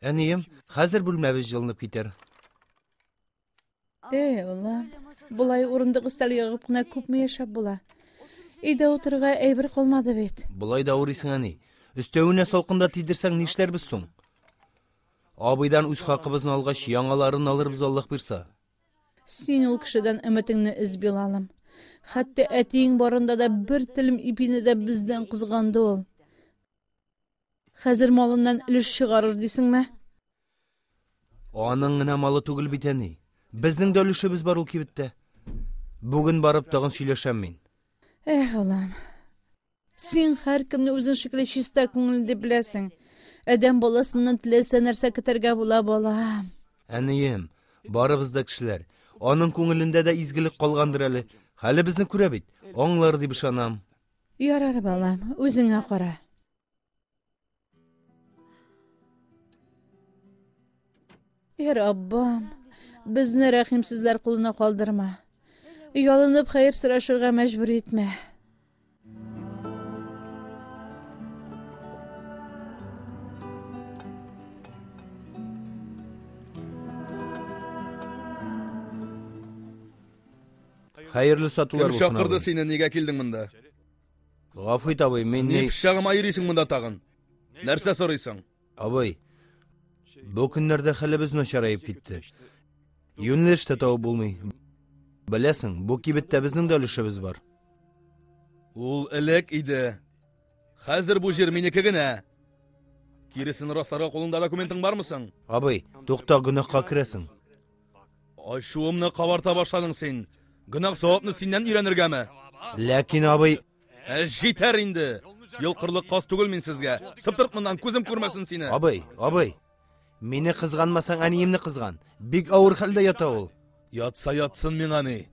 Әнием, хәзер бүлмәбез җылынып китәр. Эй, Алла, болай урындык өстәл ягып кына күпме яшәп була? Өйдә утырырга әйбер калмады бит. Болай да авырыйсың, әни. Өстәвенә салкында тидерсәң, нишләрбез соң? Абыйдан үз хакыбызны алгач, яңаларын алырбыз, Аллаһ бирса. Син ул кешедән өметеңне өз, Билалым. Хәтта әтиең барында да бер телем ипине дә бездән кызганды ул. Хәзер малыннан өлеш чыгарыр дисеңме? Аның гына малы түгел бит әни. Безнең дә өлешебез бар ул кибеттә. Бүген барып тагын сөйләшәм мин. Эх, Аллам. Син һәркемне үзең шикелле чиста күңелле дип беләсең. Адәм баласыннан теләсә нәрсә көтәргә була, балам. Әнием, барыбыз да кешеләр. Аның күңелендә дә изгелек калгандыр әле. Хәле безне күрә бит, аңлар дип ышанам. Ярар, балам, үзеңә кара. Ир Аббам, безне рәхимсезләр кулына калдырма. Ялынып хәер сорашырга мәҗбүр итмә. Хәерле сатулар булсын. Кем чакырды сине, нигә килдең монда? Гафу ит, абый, мин ни... Ни пычагыма йөрисең монда тагын? Нәрсә сорыйсың? Абый, бу көннәрдә хәлебез начараеп китте. Юнлеш тә табып булмый. Беләсең, бу кибеттә безнең дә өлешебез бар. Ул элек иде. Хәзер бу җир минеке генә. Киресен расларга кулыңда документың бармы соң? Абый, тукта гөнаһка керәсең. Ачуымны кабарта башладың син. Гөнаһ савапны синнән өйрәнергәме? Ләкин абый... Ә җитәр инде. Йолкырлык каз түгел мин сезгә. Сыптырт моннан, күзем күрмәсен сине. Абый, абый. Мине кызганмасаң, әниемне кызган. Бик авыр хәлдә ята ул. Ятса ятсын миңа ни.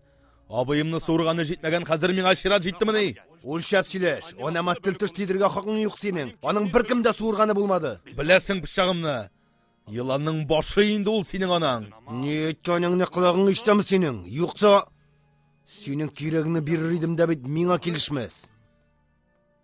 Абыемны суырганы җитмәгән, хәзер миңа чират җиттемени? Үлчәп сөйләш. Анама тел төш тидергә хакың юк синең. Аның беркем дә суырганы булмады. Беләсең пычагымны. Еланның башы инде ул синең анаң. Ни әйткәнеңне колагың ишетәме синең? Юкса синең кирәгеңне бирер идем дә бит миңа килешмәс.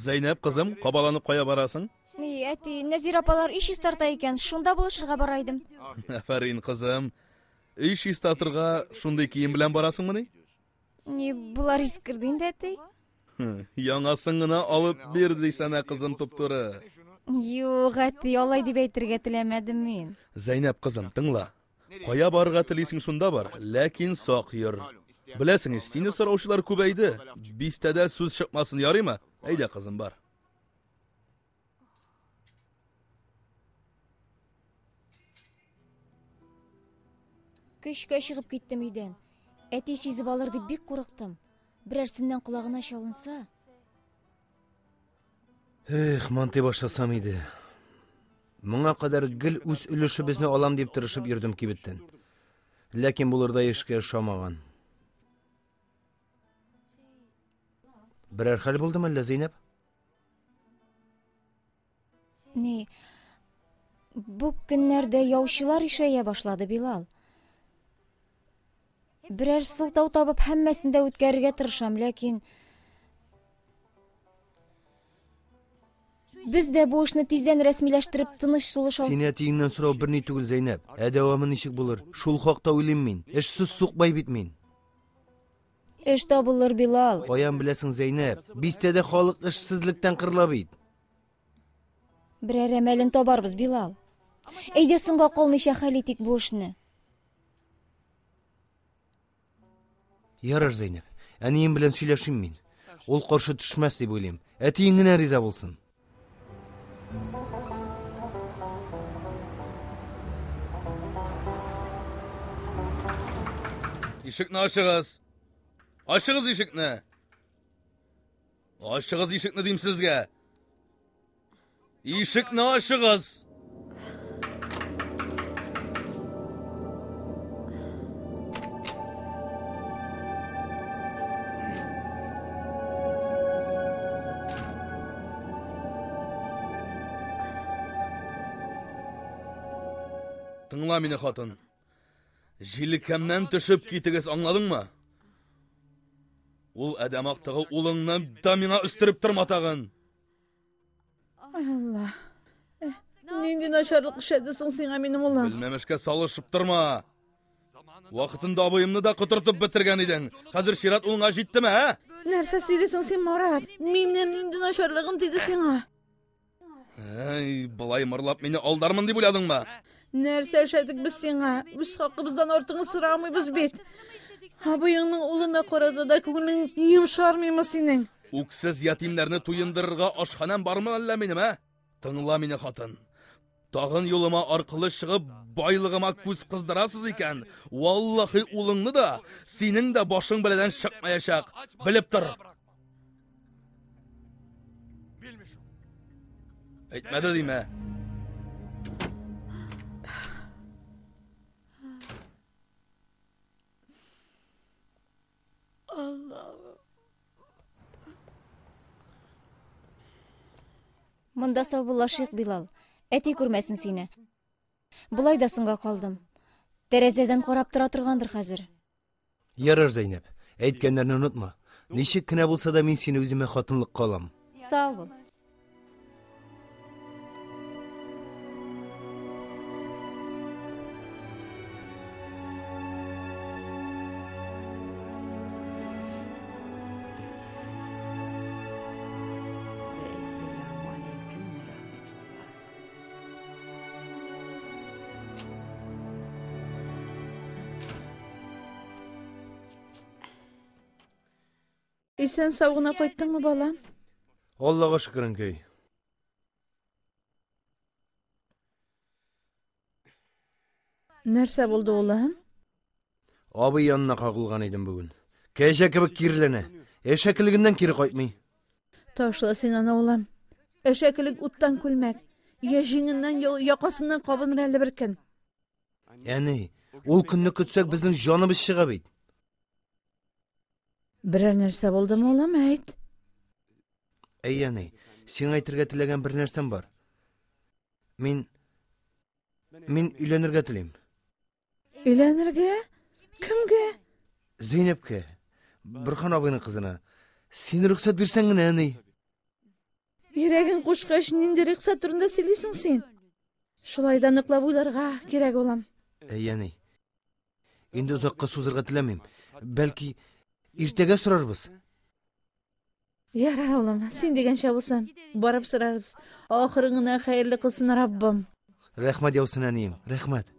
Зәйнәп кызым, кабаланып кая барасың? Ни, әти, Нәзир апалар иш тарта икән, шунда булышырга бара идем. Афәрин, кызым. Өй чистартырга шундый кием белән барасыңмыни? Ни, болар искерде инде, әти. Яңасын гына алып бир дисәнә, кызым туптуры. Юк, әти, алай дип әйтергә теләмәдем мин. Зәйнәп кызым, тыңла. Кая барырга телисең шунда бар, ләкин сак йөр. Беләсең, сине сораучылар күбәйде. Бистәдә сүз чыкмасын, ярыймы? Әйдә, кызым, бар. Көчкә чыгып киттем өйдән. Әти сизеп алыр дип бик курыктым. Берәрсеннән колагына чалынса. Эх, монтый башласам иде. Моңа кадәр гел үз өлешебезне алам дип тырышып йөрдем кибеттән. Ләкин булырдай эшкә ошамаган. Берәр хәл булдымы әллә, Зәйнәп? Ни, бу көннәрдә яучылар ишәя башлады, Билал. Берәр сылтау табып, һәммәсен дә үткәрергә тырышам, ләкин Без дә бу эшне тиздән рәсмиләштереп, тыныч сулыш алсын. Син әтиеңнән сорау берни түгел, Зәйнәб. Ә дәвамы ничек булыр? Шул хакта уйлыйм мин. Эшсез сукбай бит мин. Эш табылыр, Билал. Каян беләсең, Зәйнәп? Бистәдә халык эшсезлектән кырыла бит. Берәр әмәлен табарбыз, Билал. Әйдә соңга калмыйча хәл итик бу эшне. Ярар, Зәйнәп. Әнием белән сөйләшим мин. Ул каршы төшмәс дип уйлыйм. Әтиең генә риза булсын. Ишекне ашыгыз. Ашыгыз ишекне. Ашыгыз ишекне дим сезгә. Ишекне ашыгыз. Тыңла мине, хатын. Җилкәмнән төшеп китегез, аңладыңмы? Ул әдәм актыгы улыңны да миңа өстереп торматагын. Ай, Алла. Э, нинди начарлык эшләде соң сиңа минем улым? Белмәмешкә салышып торма. Вакытында абыемны да котыртып бетергән идең. Хәзер чират улыңа җиттеме, ә? Нәрсә сөйлисең син, Марат? Минем нинди начарлыгым диде сиңа? Әй, былай мырлап мине алдармын дип уйладыңмы? Нәрсә эшләдек без сиңа? Үз хакыбыздан артыңны сорамыйбыз бит. Абыеңның улына карата да күңелең йомшармыймы синең? Үксез ятимнәрне туендырырга ашханәм бармы әллә минем, ә? Тыңла мине, хатын. Тагын юлыма аркылы чыгып, байлыгыма күз кыздырасыз икән, валлахи улыңны да, синең дә башың белән чыкмаячак. Белеп тор. Әйтмәде димә. Монда саубуллашыйк, Билал. Әти күрмәсен сине. Болай да соңга калдым. Тәрәзәдән карап тора торгандыр хәзер. Ярар, Зәйнәп, әйткәннәрне онытма. Ничек кенә булса да мин сине үземә хатынлыкка алам. Сау бул. Исән сау гына кайттыңмы, балам? Аллага шөкер, әнкәй. Нәрсә булды улым? Абый янына кагылган идем бүген. Кәҗә кебек кирләнә. Әшәкелегеннән кире кайтмый. Ташла син аны, улым. Әшәкелек уттан күлмәк. Я җиңеннән, я якасыннан кабыныр әле бер көн. Әни, ул көнне көтсәк, безнең җаныбыз чыга бит. Берәр нәрсә булдымы, улым, әйт. Әй, әни, сиңа әйтергә теләгән бер нәрсәм бар. Мин... Мин өйләнергә телим. Өйләнергә? Кемгә? Зәйнәпкә. Бөрхан абыйның кызына. Син рөхсәт бирсәң генә, әни. Йөрәгең кушкач, нинди рөхсәт турында сөйлисең син? Шулай да ныклап уйларга кирәк, улым. Әй, әни. Инде озакка сузырга теләмим. Бәлки, иртәгә сорарбыз? Ярар, улым, син дигәнчә булсын. Барып сорарбыз. Ахырын гына хәерле кылсын Раббым. Рәхмәт яусын, әнием. Рәхмәт.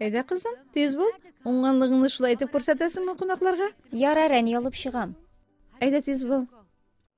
Әйдә, кызым, тиз бул. Уңганлыгыңны шулай итеп күрсәтәсеңме кунакларга? Ярар, әни, алып чыгам. Әйдә, тиз бул.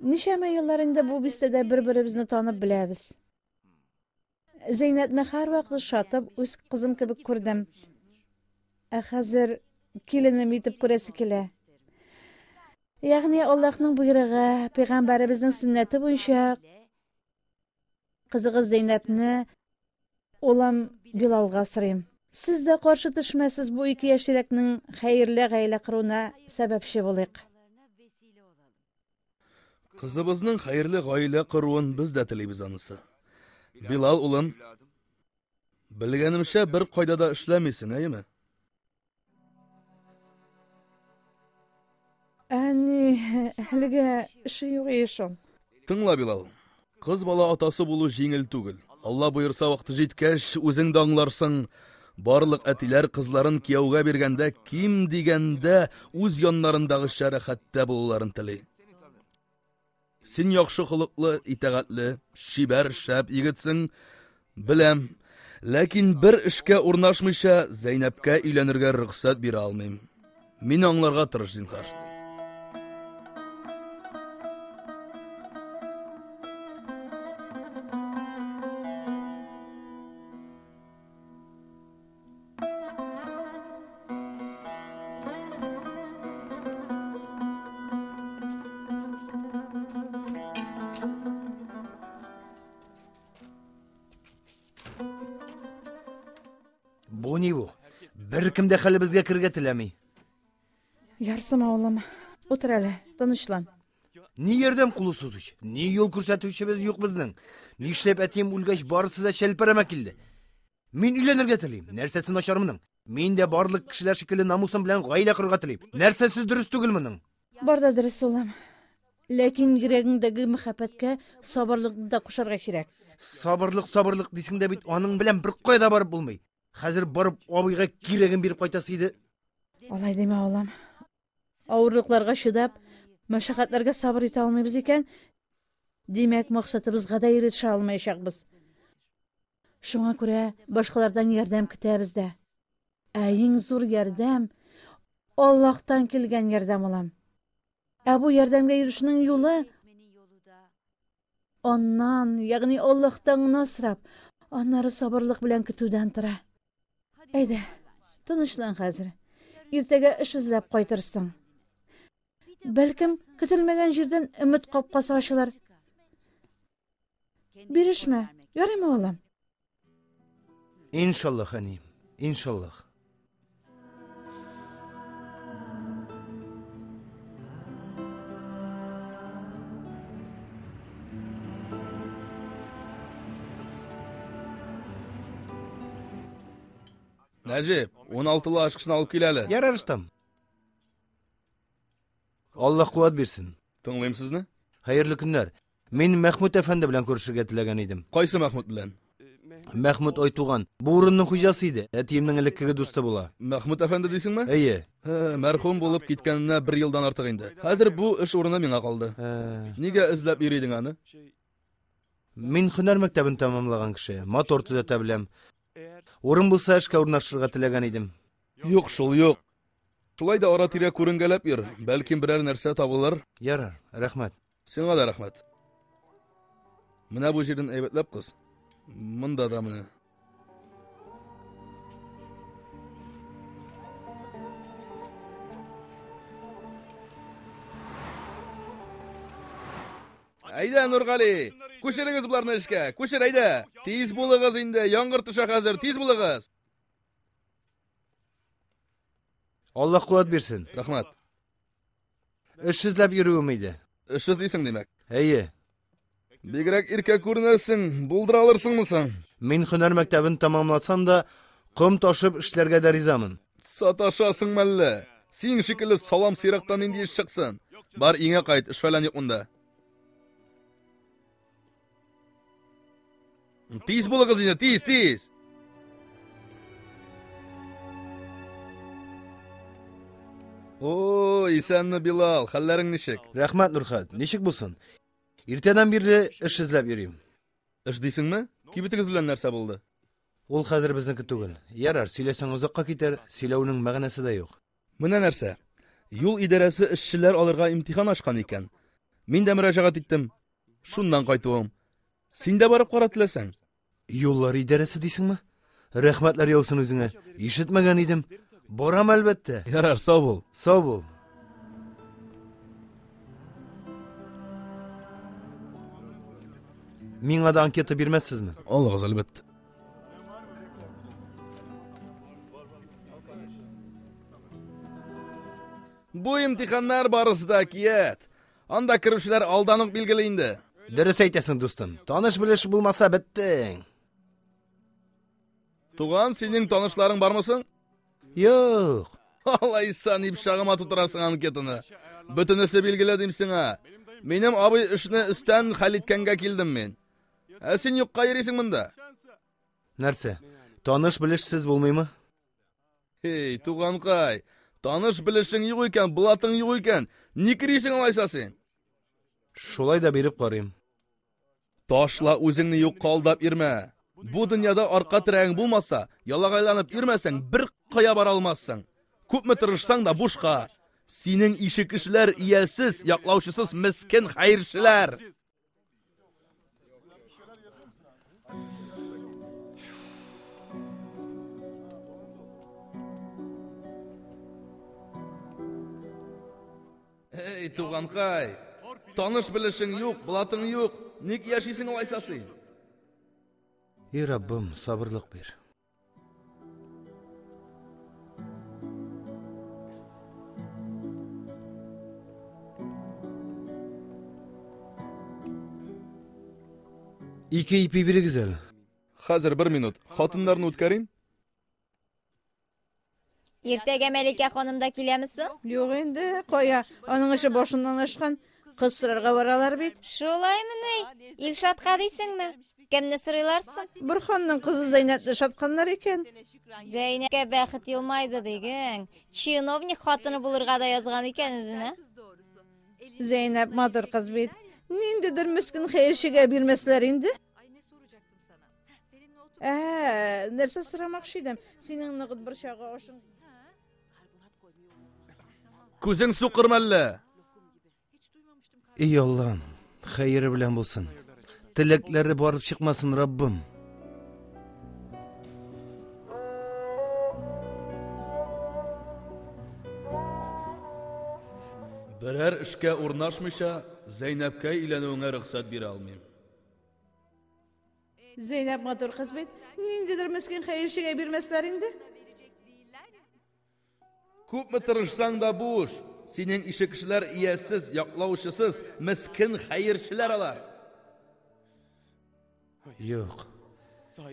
Ничәмә еллар инде бу бистәдә бер-беребезне танып беләбез. Зәйнәтне һәрвакыт шатып, үз кызым кебек күрдем. Ә хәзер киленем итеп күрәсе килә. Ягъни Аллаһның боерыгы, пәйгамбәребезнең сөннәте буенча Кызыгыз Зәйнәпне улым Билалга сырыйм. Сез дә каршы төшмәсез бу ике яшь тирәкнең хәерле гаилә коруына сәбәпче булыйк. Кызыбызның хәерле гаилә коруын без дә телибез анысы. Билал улым, белгәнемчә бер кайда да эшләмисең, әйеме? Әни, әлегә эше юк ешым. Тыңла, Билал. Кыз бала атасы булу җиңел түгел. Алла боерса вакыты җиткәч, үзең дә аңларсың. Барлык әтиләр кызларын кияүгә биргәндә ким дигәндә үз яннарындагыча рәхәттә булуларын тели. Син яхшы холыклы, итәгатьле, чибәр, шәп егетсең, беләм. Ләкин бер эшкә урнашмыйча, Зәйнәпкә өйләнергә рөхсәт бирә алмыйм. Мин аңларга тырыш, зинхар. Бу ни бу? Бер кем дә хәлебезгә кергә теләми. Ярсым авылым, утыр әле, тынычлан. Ни ярдәм кулы сузыч, ни юл күрсәтүчебез юк безнең. Нишләп әтием үлгәч барысы да чәлпәрәмә килде. Мин өйләнергә телим. Нәрсәсе начар моның? Мин дә барлык кешеләр шикелле намусым белән гаилә корырга телим. Нәрсәсе дөрес түгел моның? Бар да дөрес, улым. Ләкин йөрәгеңдәге мәхәббәткә сабырлыкны да кушарга кирәк. Сабырлык, сабырлык дисең дә бит, аның белән бер кайда барып булмый. Хәзер барып абыйга кирәген биреп кайтасы иде. Алай димә, улым. Авырлыкларга чыдап, мәшәкатьләргә сабыр итә алмыйбыз икән, димәк, максатыбызга да ирешә алмаячакбыз. Шуңа күрә башкалардан ярдәм көтәбез дә. Ә иң зур ярдәм Аллаһтан килгән ярдәм алам. Ә бу ярдәмгә ирешүнең юлы Аннан, ягъни Аллаһтан гына сорап, аннары сабырлык белән көтүдән тора. Әйдә, тынычлан хәзер. Иртәгә эш эзләп кайтырсың. Бәлкем, көтелмәгән җирдән өмет капкасы ачылыр. Бирешмә, ярыймы, балам? Иншаллах, әни, иншаллах. Нәҗип, 16-лы ашкышны алып кил әле. Ярар, Рустам. Аллаһ куат бирсен. Тыңлыйм сезне. Хәерле көннәр. Мин Мәхмүт әфәнде белән күрешергә теләгән идем. Кайсы Мәхмүт белән? Мәхмүт Айтуган. Бу урынның хуҗасы иде. Әтиемнең элеккеге дусты була. Мәхмүт әфәнде дисеңме? Әйе. Мәрхүм булып киткәненә бер елдан артык инде. Хәзер бу эш урыны миңа калды. Нигә эзләп йөри идең аны? Мин һөнәр мәктәбен тәмамлаган кеше. Мотор төзәтә беләм. Урын булса, эшкә урнашырга теләгән идем. Юк шул, юк. Шулай да ара-тирә күренгәләп йөр. Бәлки берәр нәрсә табылыр. Ярар, рәхмәт. Сиңа да рәхмәт. Менә бу җирдән әйбәтләп кыз. Монда да менә. Әйдә, Нургали, күчерегез боларны эшкә. Күчер, әйдә. Тиз булыгыз инде, яңгыр төшә хәзер, тиз булыгыз. Аллаһ куәт бирсен. Рәхмәт. Эш эзләп йөрүем иде. Эш эзлисең, димәк? Әйе. Бигрәк иркә күренәсең, булдыра алырсыңмы соң? Мин һөнәр мәктәбен тәмамласам да, ком ташып эшләргә дә ризамын. Саташасың мәллә? Син шикелле салам сыйрактан нинди эш чыксын? Бар, иңә кайт, эш фәлән юк монда. Тиз булыгыз инде, тиз, тиз. О, исәнме Билал, хәлләрең ничек? Рәхмәт, Нурхат. Ничек булсын? Иртәдән бирле эш эзләп йөрим. Эш дисеңме? Кибетегез белән нәрсә булды? Ул хәзер безнеке түгел. Ярар, сөйләсәң озакка китәр, сөйләүнең мәгънәсе дә юк. Менә нәрсә, юл идарәсе эшчеләр алырга имтихан ачкан икән. Мин дә мөрәҗәгать иттем. Шуннан кайтуым. Син дә барып кара теләсәң. Юллар идарәсе дисеңме? Рәхмәтләр яусын үзеңә. Ишетмәгән идем. Барам әлбәттә. Ярар, сау бул. Сау бул. Миңа да анкета бирмәссезме? Алыгыз, әлбәттә. Бу имтиханнар барысы да кият. Анда керүчеләр алдан ук билгеле инде. Дөрес әйтәсең, дустым. Таныш белеш булмаса беттең. Туган, синең танышларың бармы соң? Юк. Алай сан дип шагыма тутырасың анкетаны. Бөтенесе билгеле дим сиңа. Минем абый эшне өстән хәл иткәнгә килдем мин. Ә син юкка йөрисең монда. Нәрсә? Таныш белешсез булмыймы? Эй, туганкай, таныш белешең юк икән, блатың юк икән, ник йөрисең алайса син? Шулай да биреп карыйм. Ташла үзеңне юк калдап ирмә. Бу дөньяда арка терәгең булмаса, ялагайланып ирмәсәң, бер кая бара алмассың. Күпме тырышсаң да бушка. Синең ише кешеләр иясез, яклаучысыз мескен хәерчеләр. Эй, туганкай, таныш белешең юк, блатың юк, ник яшисең алайса син? И Раббым, сабырлык бир. Ике ипи бирегез әле. Хәзер бер минут. Хатыннарны үткәрим. Иртәгә Мәликә ханым да киләме соң? Юк инде, кая, аның эше башыннан ашкан. Кыз сорарга баралар бит. Шулаймы ни? Илшатка дисеңме? Кемне сорыйлар соң? Бер ханның кызы Зәйнәпне шатканнар икән. Зәйнәпкә бәхет елмайды диген. Чиновник хатыны булырга да язган икән үзенә. Зәйнәп матур кыз бит. Ниндидер мескен хәерчегә бирмәсләр инде. Ә, нәрсә сорамакчы идем? Синең ныгыт борчагы ашың. Күзең сукыр мәллә? Эй Аллам, хәере белән булсын. Теләкләре барып чыкмасын, Раббым. Берәр эшкә урнашмыйча, Зәйнәпкә өйләнүеңә рөхсәт бирә алмыйм. Зәйнәп матур кыз бит. Ниндидер мескен хәерчегә бирмәсләр инде. Күпме тырышсаң да буш. Синең ише кешеләр иясез, яклаучысыз, мескен хәерчеләр алар. Юк.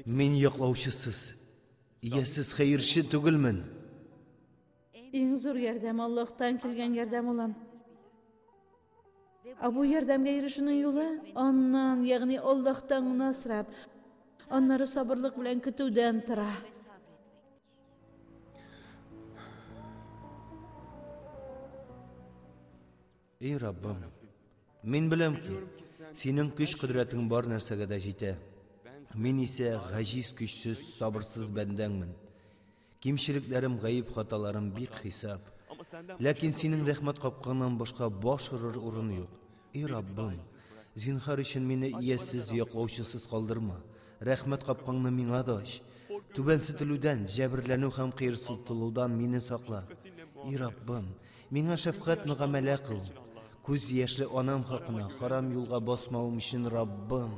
Мин яклаучысыз, иясез хәерче түгелмен. Иң зур ярдәм Аллаһтан килгән ярдәм улым. Ә бу ярдәмгә ирешүнең юлы аннан, ягъни Аллаһтан гына сорап, аннары сабырлык белән көтүдән тора. Эй Раббым, мин беләм ки, синең көч-кодрәтең бар нәрсәгә дә җитә. Мин исә гаҗиз, көчсез, сабырсыз бәндәңмен. Кимчелекләрем, гаеп-хаталарым бик хисап. Ләкин синең рәхмәт капкаңнан башка баш орыр урын юк. И Раббым, зинхар өчен мине иясез, яклаучысыз калдырма. Рәхмәт капкаңны миңа да ач. Түбәнсетелүдән, җәберләнү һәм кыерсытылудан мине сакла. И Раббым, миңа шәфкать мөгамәлә кыл. Күз яшьле анам хакына харам юлга басмавым өчен, Раббым,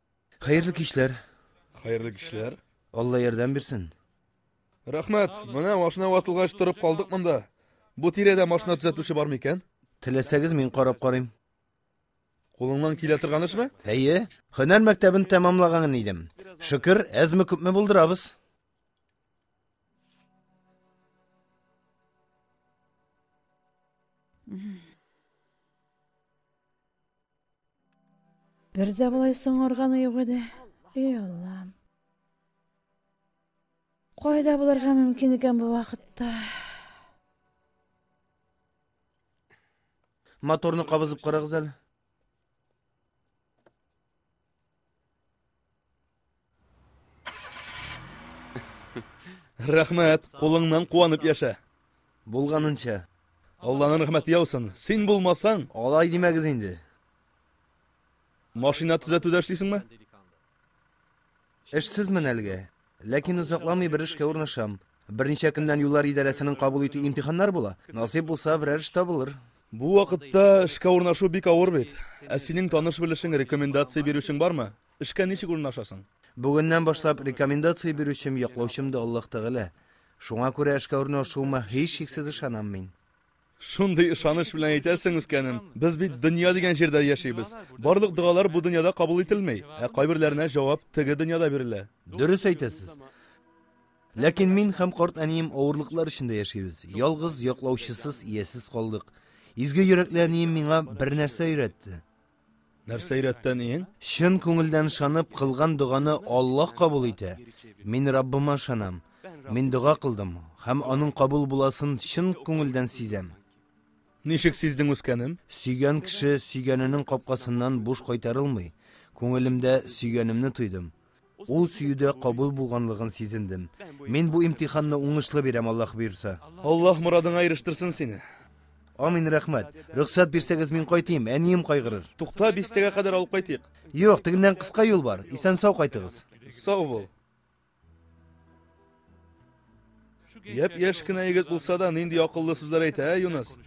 Хәерле кичләр. Хәерле кичләр. Алла ярдәм бирсен. Рәхмәт. Менә машина ватылгач торып калдык монда. Бу тирәдә машина төзәтүче бар микән? Теләсәгез, мин карап карыйм. Кулыңнан килә торган эшме? Әйе. Һөнәр мәктәбен тәмамлаган идем. Шөкер, әзме күпме булдырабыз. Бер дә болай соңарганы юк иде. Эй Аллам. Кайда булырга мөмкин икән бу вакытта? Моторны кабызып карагыз әле. Рәхмәт, кулыңнан куанып яшә. Булганынча. Алланың рәхмәте яусын. Син булмасаң, алай димәгез инде. Машина төзәтүдә эшлисеңме? Эшсезмен әлегә. Ләкин озакламый бер эшкә урнашам. Берничә көннән юллар идарәсенең кабул итү имтиханнары була. Насыйп булса, берәр эш табылыр. Бу вакытта эшкә урнашу бик авыр бит. Ә синең таныш-белешең, рекомендация бирүчең бармы? Эшкә ничек урнашасың? Бүгеннән башлап рекомендация бирүчем, яклаучым да Аллаһ Тәгалә. Шуңа күрә эшкә урнашуыма һичшиксез ышанам мин. Шундый ышаныч белән әйтәсең, үскәнем. Без бит дөнья дигән җирдә яшибез. Барлык догалар бу дөньяда кабул ителми, ә кайберләренә җавап теге дөньяда бирелә. Дөрес әйтәсез. Ләкин мин һәм карт әнием авырлыклар эчендә яшибез. Ялгыз, яклаучысыз, иясез калдык. Изге йөрәкле әнием миңа бер нәрсә өйрәтте. Нәрсә өйрәтте әниең? Чын күңелдән ышанып кылган доганы Аллаһ кабул итә. Мин Раббыма ышанам. Мин дога кылдым һәм аның кабул буласын чын күңелдән сизәм. Ничек сиздең үскәнем? Сөйгән кеше сөйгәненең капкасыннан буш кайтарылмый. Күңелемдә сөйгәнемне тойдым. Ул сөюдә кабул булганлыгын сизендем. Мин бу имтиханны уңышлы бирәм, Аллаһ боерса. Аллаһ морадыңа ирештырсын сине. Амин, рәхмәт. Рөхсәт бирсәгез, мин кайтыйм, әнием кайгырыр. Тукта, бистәгә кадәр алып кайтыйк. Юк, тегеннән кыска юл бар. Исән-сау кайтыгыз. Сау бул. Япь-яшь кенә егет булса да, нинди акыллы сүзләр әйтә, ә, Юныс?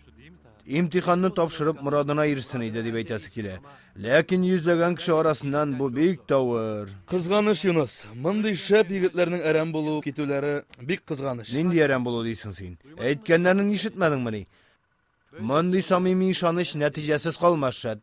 Имтиханны тапшырып, морадына ирешсен иде, дип әйтәсе килә. Ләкин йөзләгән кеше арасыннан бу бик тавыр. Кызганыш, Юныс. Мондый шәп егетләрнең әрәм булу, китүләре бик кызганыш. Нинди әрәм булу дисең син? Әйткәннәрен ишетмәдеңмени? Мондый самими ышаныч нәтиҗәсез калмас, шәт.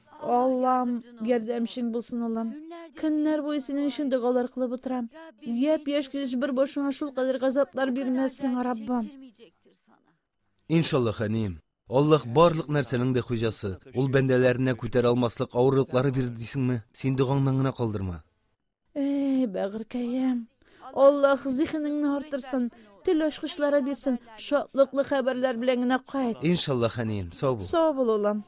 Аллам, ярдәмчең булсын, Аллам. Көннәр буе синең өчен догалар кылып утырам. Яп яшь килеш бер башыңа шул кадәр газаплар бирмәс сиңа, Раббым. Иншаллах, әнием. Аллах барлык нәрсәнең дә хуҗасы. Ул бәндәләренә күтәрә алмаслык авырлыклары бирде дисеңме? Син догаңнан гына калдырма. Эй, бәгыркәем. Аллаһ зихенеңне артырсын, тел ачкычлары бирсен, шатлыклы хәбәрләр белән генә кайт. Иншаллаһ, әнием, сау бул. Сау бул, улым.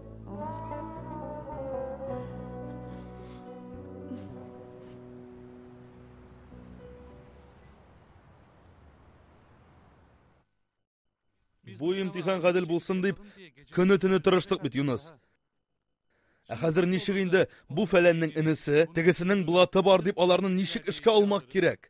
Бу имтихан гадел булсын дип, көне-төне тырыштык бит, Юныс. Ә хәзер ничек инде бу фәләннең энесе, тегесенең блаты бар дип аларны ничек эшкә алмак кирәк?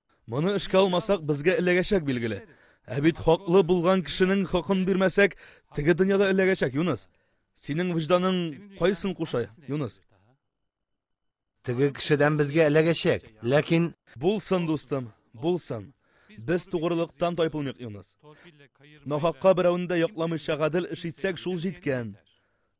Моны эшкә алмасак, безгә эләгәчәк билгеле. Ә бит хаклы булган кешенең хакын бирмәсәк, теге дөньяда эләгәчәк, Юныс. Синең вижданың кайсын куша, Юныс? Теге кешедән безгә эләгәчәк, ләкин... Булсын, дустым, булсын. Без тугрылыктан тайпылмыйк, Юныс. Нахакка берәүне дә якламыйча гадел эш итсәк, шул җиткән.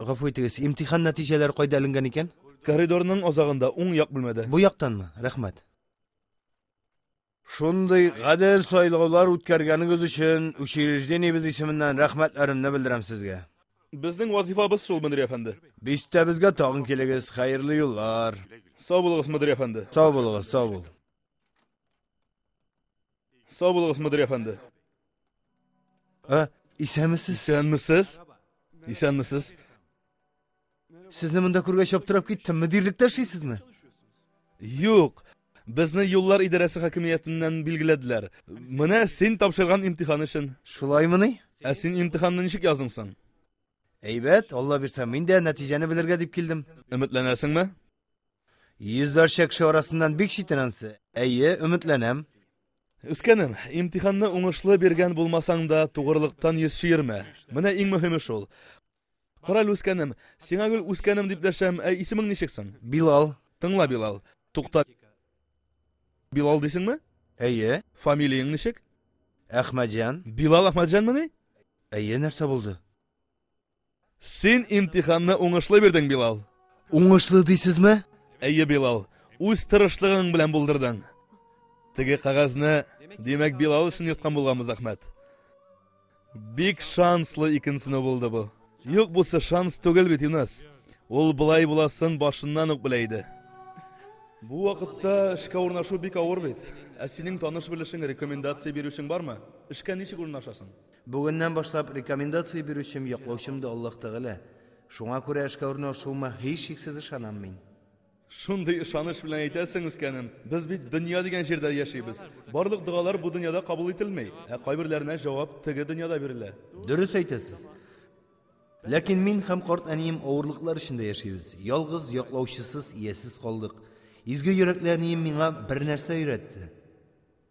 Гафу итегез, имтихан нәтиҗәләре кайда эленгән икән? Коридорның азагында, уң як бүлмәдә. Бу яктанмы? Рәхмәт. Шундый гадел сайлаулар үткәргәнегез өчен учреждениебез исеменнән рәхмәтләремне белдерәм сезгә. Безнең вазифабыз шул, мөдир әфәнде. Бистәбезгә тагын килегез, хәерле юллар. Сау булыгыз, мөдир әфәнде. Сау булыгыз, сау бул. Сау булыгыз, мөдир әфәнде. Ә, исәнмесез? Исәнмесез? Исәнмесез? Сезне монда күргәч аптырап киттем. Мөдирлектә эшлисезме? Юк. Безне юллар идарәсе хакимиятеннән билгеләделәр. Менә син тапшырган имтихан өчен. Шулаймыни? Ә син имтиханны ничек яздың соң? Әйбәт, Алла бирсә, мин дә нәтиҗәне белергә дип килдем. Өметләнәсеңме? Йөзләрчә кеше арасыннан бик читен ансы. Әйе, өметләнәм. Үскәнем, имтиханны уңышлы биргән булмасаң да, тугрылыктан йөз чөермә. Менә иң мөһиме шул. Карале, үскәнем, сиңа гел үскәнем дип дәшәм, ә исемең ничек соң? Билал. Тыңла, Билал. Тукта. Билал дисеңме? Әйе. Фамилияң ничек? Әхмәтҗан. Билал Әхмәтҗанмыни? Әйе, нәрсә булды? Син имтиханны уңышлы бирдең, Билал. Уңышлы дисезме? Әйе, Билал. Үз тырышлыгың белән булдырдың. Теге кагазны, димәк, Билал өчен йөрткән булганбыз, Әхмәт. Бик шанслы икенчене булды бу. Юк, бусы шанс түгел бит, Юнас. Ул былай буласын башыннан ук белә иде. Бу вакытта эшкә урнашу бик авыр бит. Ә синең таныш белешең, рекомендация бирүчең бармы? Эшкә ничек урнашасың? Бүгеннән башлап рекомендация бирүчем, яклаучым да Аллаһ Тәгалә. Шуңа күрә эшкә урнашуыма һичшиксез ышанам мин. Шундый ышаныч белән әйтәсең, үскәнем. Без бит дөнья дигән җирдә яшибез. Барлык догалар бу дөньяда кабул ителми, ә кайберләренә җавап теге дөньяда бирелә. Дөрес әйтәсез. Ләкин мин һәм карт әнием авырлыклар эчендә яшибез. Ялгыз, яклаучысыз, иясез калдык. Изге йөрәкле әнием миңа бернәрсә өйрәтте.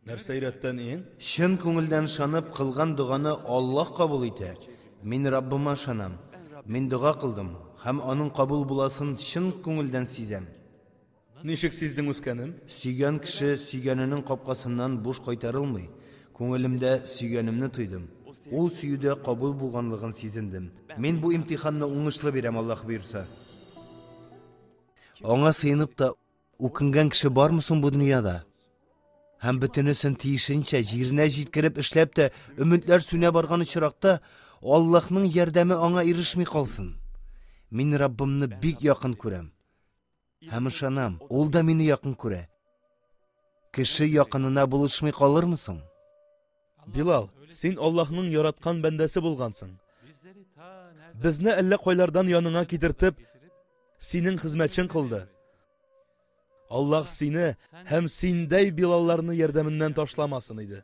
Нәрсә өйрәттә ниең? Чын күңелдән шанып кылган доганы Аллаһ кабул итә. Мин Раббыма шанам. Мин дога кылдым һәм аның кабул буласын чын күңелдән сизәм. Ничек сиздең үскәнем? Сөйгән кеше сөйгәненең капкасыннан буш кайтарылмый. Күңелемдә сөйгәнемне тойдым. Ул сөюдә кабул булганлыгын сизендем. Мин бу имтиханны уңышлы бирәм, Аллаһ боерса. Аңа сыенып та Үкенгән кеше бармы соң бу дөньяда? Һәм бөтенесен тиешенчә җиренә җиткереп эшләп тә өметләр сүнә барган очракта Аллаһның ярдәме аңа ирешми калсын. Мин Раббымны бик якын күрәм. Һәм ышанам, ул да мине якын күрә. Кеше якынына булышмый калырмы соң? Билал, син Аллаһның яраткан бәндәсе булгансың. Безне әллә кайлардан яныңа китертеп, синең хезмәтчең кылды. Аллаһ сине һәм синдәй Билалларны ярдәменнән ташламасын иде.